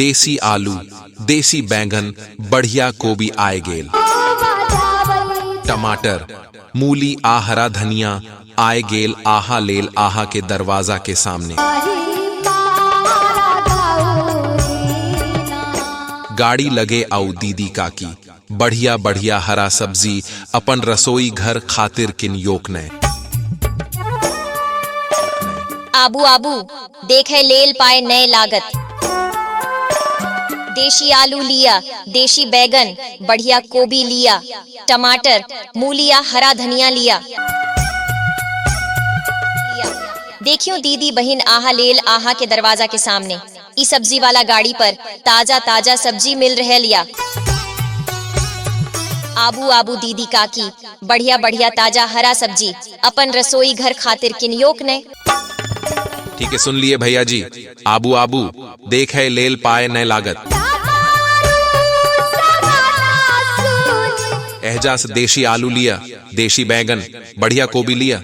देसी आलू देसी बैंगन बढ़िया कोबी आय गेल टमाटर मूली आ हरा धनिया आय गेल आहा लेल आहा के दरवाजा के सामने गाड़ी लगे आउ दीदी काकी बढ़िया बढ़िया हरा सब्जी अपन रसोई घर खातिर किन योक ने आबू आबू देखे लेल पाए नए लागत देशी आलू लिया देशी बैगन बढ़िया कोबी लिया टमाटर मूलिया हरा धनिया लिया देखियो दीदी बहन आहा लेल आहा के दरवाजा के सामने ई सब्जी वाला गाड़ी पर ताजा ताजा सब्जी मिल रहल या आबू आबू दीदी काकी बढ़िया बढ़िया ताजा हरा सब्जी अपन रसोई घर खातिर किनियोक ने ठीक है सुन लिए भैया जी आबू आबू देख है लेल पाए नए लागत एहजा से देशी आलू लिया देशी बैंगन बढ़िया कोबी लिया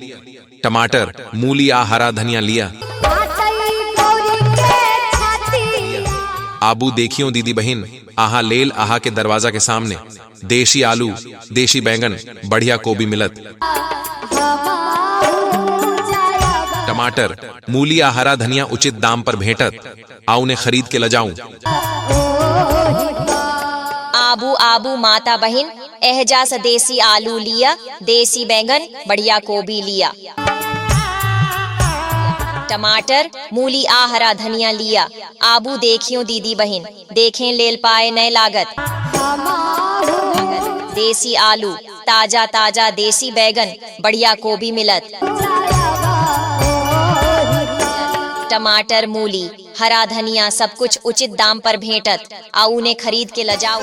टमाटर मूली आ हरा धनिया लिया आबू देखियो दीदी बहन आहा लेल आहा के दरवाजा के सामने देशी आलू देशी बैंगन बढ़िया कोबी मिलत टमाटर मूली आ हरा धनिया उचित दाम पर भेंटत आओ उन्हें खरीद के लजाऊं आबू आबू माता बहन एहजा से देसी आलू लिया देसी बैंगन बढ़िया गोभी लिया टमाटर मूली आ हरा धनिया लिया आबू देखियो दीदी बहन देखें लेल पाए नए लागत देसी आलू ताजा ताजा देसी बैगन बढ़िया कोबी मिलत टमाटर मूली हरा धनिया सब कुछ उचित दाम पर भेंटत आ उन्हें खरीद के लजाऊ